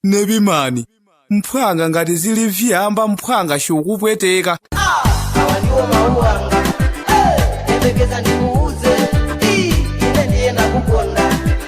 nepman mphwanga ngati zili vyamba mphwanga chikukupweteka awa ndiwo mawu anga Eh, yembekeza ndikuuze Ii, ine ndiye nakukonda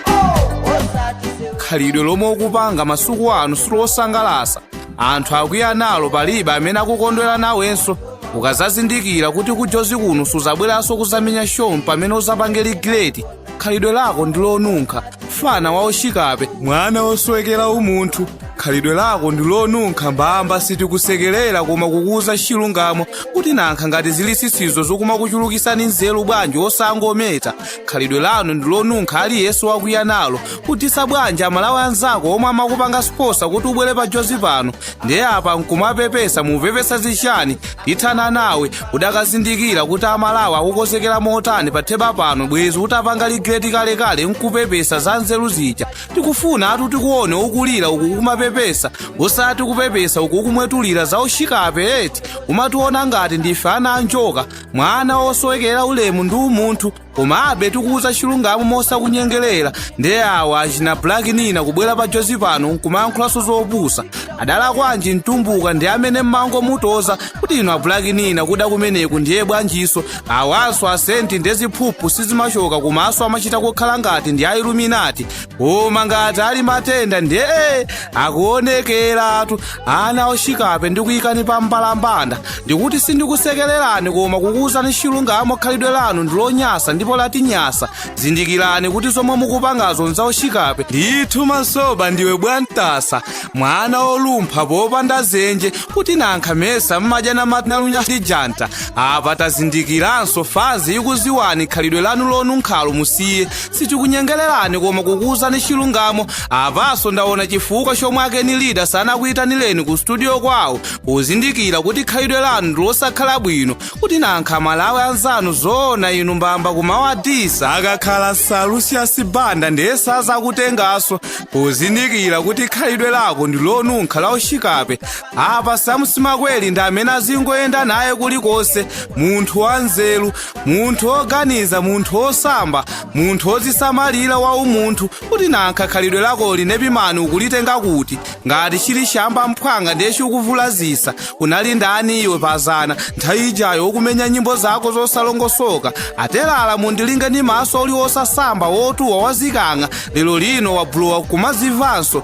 Oh, osati sewe khalidwe lomwe ukupanga masiku ano silosangalasa anthu akwiya nalo palibe amene akukondwera nawenso ukazazindikira kuti ku jozi kuno suzabweranso kuzamenya show pamene uzapange regret khalidwe lako ndi lonunkha mfana wa uchikape mwana wosowekera umunthu khalidwe lako ndi lonunkha mbamba sitikusekerera koma kukuuza chilungamo kuti nankha ngati zili sisizo zokumakuchulukisani nzeru bwanji osangometa khalidwe lanu ndi lonunkha aliyense wakwiya nalo kudisa bwanji amalawi anzako omwe amakupanga sponsor kuti ubwere pa jozi pano ndiye apa nkumapepesa mupepesa zichani ndithana nawe udakazindikira kuti amalawi akukozekera motani pa theba pano bwezi utapanga regret kalekale nkupepesa za nzeru zija tikufuna atu tikuone ukulira uku kumapepesa osati kupepesa uku kumwetulira za uchikape eti umationa ngati ndife ana anjoka mwana osowekera ulemu ndi umunthu komabe tikuuza chilungamo mosakunyengerera ndiye awa achina black nina kubwera pa jozi pano nkumayankhulanso zopusa adalakwanji mtumbuka ndi amene mmangomutoza kuti inu a black nina kuda kumeneku ndiye bwanjinso awanso a saint ndi ziphuphu sizimachoka komanso amachita kukhala ngati ndi a illuminati koma ngati ali matenda ndiye akuonekeratu ana ochikape ndikuyikani pa mbalambanda ndikuti sindikusekererani koma kukuwuzani chilungamo khalidwe lanu ndilonyasa ndipo latinyasa zindikirani kuti zomwe mukupangazo nzauchikape ndithu masoba ndiwe bwantasa mwana olumpha popanda zenje kuti nankha mesa mmadya na matnalunya ndi janta apa tazindikiranso fans ikuziwani khalidwe lanu lonunkhalo musiye sitikunyengererani koma kukuwuzani chilungamo apaso ndaona chifukwa chomwe akeni lida sanakuyitanireni ku studio kwawo pozindikira kuti khalidwe lanu ndilosakhala bwino kuti nankha amalawi anzanu zoona inu mbamba kumawadisa akakhala sir lucius banda ndiye sazakutengaso pozindikira kuti khalidwe lako ndilonunkha la uchikape apa sam simakweli ndi amene azingoyenda naye kulikonse munthu wanzeru munthu woganiza munthu wosamba munthu wozisamalira wa umunthu kuti nankha khalidwe lakoli nepman ukulitenga kuti ngati chili chamba mphwanga ndiye chikuvulazisa unali ndani iwe pazana nthawi ijayo ukumenya nyimbo zako zosalongosoka atelala mundilinge ndi maso uli wosasamba wotuwa wazikang'a lero lino wabulowa kumazimvanso